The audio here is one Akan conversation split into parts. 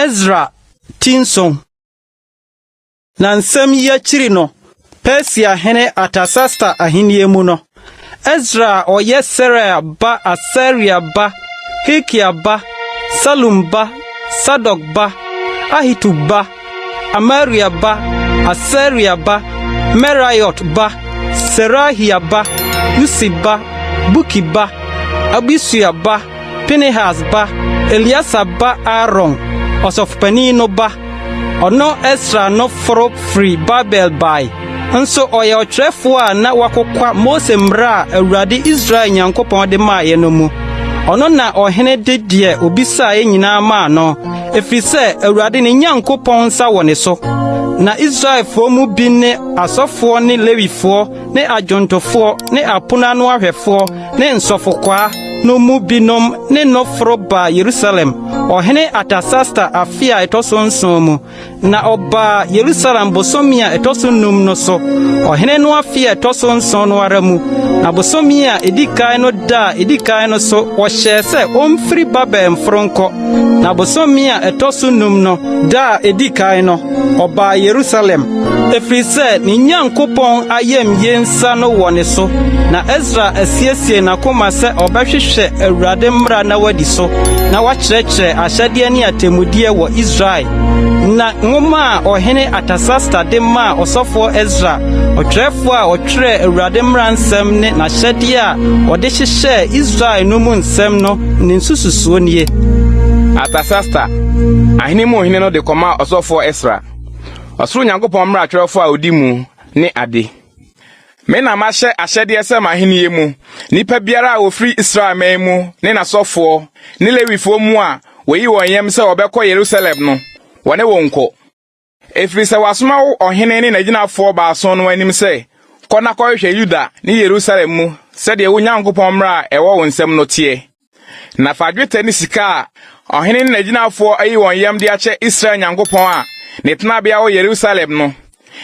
Ezra ti nson. Na nsɛm yi akyiri no, Persia hene Artasasta ahenni mu no, Ezra a ɔyɛ Seraia ba Asaria ba Hilkia ba Salum ba Sadok ba Ahitub ba Amaria ba, Asaria ba, Meraiot ba, Serahia ba, Usi ba, Buki ba, Abisua ba, Pinehas ba, Eliasa ba Aaron, ɔsɔfopanin no ba. Ɔno Esra no foro firi Babel bae. Nso ɔyɛ ɔtwerɛfoɔ a na wakokwa Mose mmara a Awurade Israel Nyankopɔn de maaeɛ no mu. Ɔno na ɔhene de deɛ ɔbisaeɛ nyinaa maa no, ɛfiri sɛ Awurade ne Nyankopɔn nsa wɔ ne so. Na Israelfoɔ mu bi ne asɔfoɔ ne Lewifoɔ ne adwontofoɔ ne apono ano ahwɛfoɔ ne nsɔfokwaa no mu binom ne no foro baa Yerusalem ɔhene Artasasta afe a ɛtɔ so nson mu Na ɔbaa Yerusalem bosome a ɛtɔ so num no so, ɔhene no afe a ɛtɔ so nson no ara mu, na bosome a edi kan no da a edi kan no so wɔhyɛɛ sɛ omfiri Babel mforo nkɔ. Na bosome a ɛtɔ so num no da a edi kan no, ɔbaa Yerusalem, ɛfiri sɛ ne Nyankopɔn ayamye nsa no wɔ ne so, na Esra asiesie n'akoma sɛ ɔbɛhwehwɛ Awurade mmara na wadi so, na wakyerɛkyerɛ Ahyɛdeɛ ne Atemmudeɛ wɔ Israel, na nwoma a ɔhene Artasasta de maa ɔsɔfoɔ Esra, ɔtwerɛfoɔ a ɔtwerɛɛ Awurade mmara nsɛm ne n'ahyɛdeɛ a wɔde hyehyɛɛ Israel no mu nsɛm no ne nsususoɔ nie. Artasasta, ahene mu hene no de kɔmaa ɔsɔfoɔ Esra, ɔsoro Nyankopɔn mmara twerɛfoɔ a ɔdi mu ne ade. Me na mahyɛ ahyɛdeɛ sɛ m'ahennie mu nipa biara a ɔfiri Israel man mu ne n'asɔfoɔ ne Lewifoɔ mu a wɔayi wɔn yam sɛ wɔbɛkɔ Yerusalem no, wɔne wo nkɔ. Ɛfiri sɛ wɔasoma wo ɔhene ne n'agyinafoɔ baason no anim sɛ, 'Kɔ na kɔhwehwɛ Yuda ne Yerusalem mu sɛdeɛ wo Nyankopɔn mmara a ɛwɔ wo nsam no teɛ. Na fa dwetɛ ne sika a ɔhene ne n'agyinafoɔ ayi wɔn yam de akyɛ Israel Nyankopɔn a ne tenabea wɔ Yerusalem no,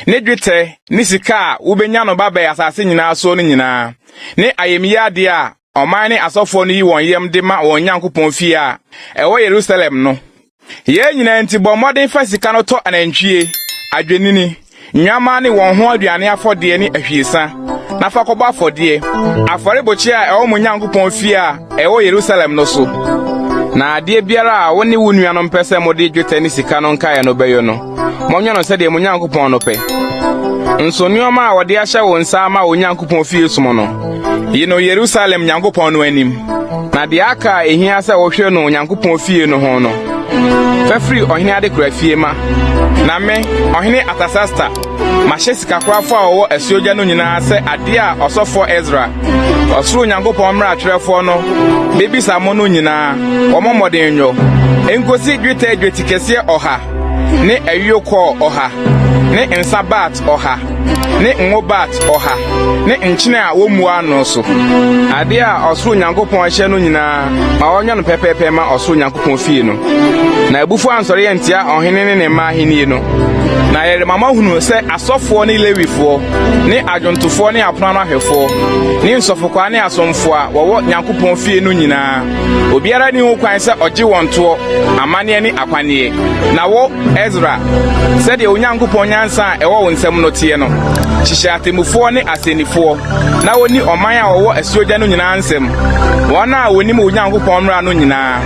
ne dwetɛ ne sika a wobɛnya no ba bɛn asase nyinaa soɔ no nyinaa, ne ayamyie adeɛ a ɔman ne asɔfoɔ no yi wɔn yam de ma wɔn Nyankopɔn fie a ɛwɔ Yerusalem no. Yei nyinaa nti, bɔ mmɔden fa sika no tɔ anantwie, adwennini, nnwammaa ne wɔn ho aduane afɔdeɛ ne ahwiesa, na fa kɔbɔ afɔdeɛ, afɔrebukyia a ɛwɔ mo Nyankopɔn fie a ɛwɔ Yerusalem no so. Na adeɛ biara a wo ne wo nuanom pɛ sɛ mode dwetɛ ne sika no nkaeɛ no bɛyɔ no, monyɛ no sɛdeɛ mo Nyankopɔn no pɛ. Nso nneɛma a wɔde ahyɛ wo nsa ama wo Nyankopɔn fie som no, yi no Yerusalem Nyankopɔn no anim. Na deɛ aka a ɛhia sɛ wohwɛ no Onyankopɔn fie no ho no, fa firi ɔhene adekora fie ma. Na me, ɔhene Artasasta, mahyɛ sikakorafo a wɔwɔ asuogya no nyinaa sɛ adeɛ a ɔsɔfoɔ Ezra, ɔsoro Nyankopɔn mmeratwerɛfoɔ no, bebisa mo no nyinaa, wɔmmɔ mmɔden nyɔ, enkosi dwetɛ dwetikɛseɛ ɔha. ne ayuokɔɔ ɔha, ne nsa baat ɔha, ne ngo baat ɔha, ne nkyene a wɔmmua ano so. Adeɛ a ɔsoro Nyankopɔn ahyɛ no nyinaa ma wɔnyɛ no pɛpɛɛpɛ ma ɔsoro Nyankopɔn fie no. Na abufuo ansɔre antia ɔhene ne ne mma ahennie no. Na yɛrema moahunu sɛ asɔfoɔ ne Lewifoɔ, ne adwontofoɔ ne apono ano ahwɛfoɔ, ne nsɔfokwaa ne asomfoɔ a wɔwɔ Nyankopɔn fie no nyinaa, Obiara nni ho kwan sɛ ɔgye wɔn toɔ, amanneɛ ne akwanneɛ. Na wo, Esra, sɛdeɛ Onyankopɔn nyansa a ɛwɔ wo nsam no teɛ no, hyehyɛ atemmufoɔ ne asɛnnifoɔ na wɔnni ɔman a wɔwɔ asuogya no nyinaa nsam, wɔn a wɔnim wo Nyankopɔn mmara no nyinaa,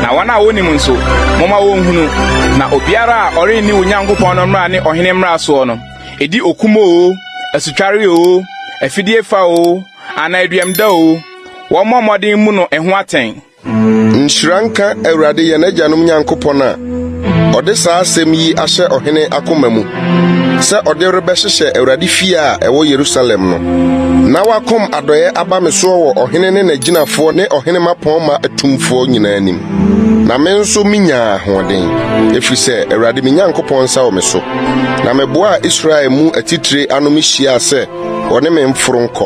na wɔn a wɔnnim nso, momma wɔnhunu. Na obiara a ɔrenni wo Nyankopɔn no mmara ne ɔhene mmara soɔ no, ɛdi okum oo, asutwareɛ oo, afideɛfa oo, Anaa aduam da oo, wɔmmɔ mmɔden mmu no ho atɛn. Nhyira nka Awurade yɛn agyanom Nyankopɔn a ɔde saa asɛm yi ahyɛ ɔhene akoma mu, sɛ ɔde rebɛhyehyɛ Awurade fie a ɛwɔ Yerusalem no. Na wakɔm adɔeɛ aba me soɔ wɔ ɔhene ne n'agyinafoɔ ne ɔhene mmapɔmma atumfoɔ nyinaa anim, na me nso menyaa ahoɔden, ɛfiri sɛ Awurade me Nyankopɔn nsa wɔ me so, na meboaa Israel mu atitire ano mehyiaa sɛ Wɔne me mforo nkɔ.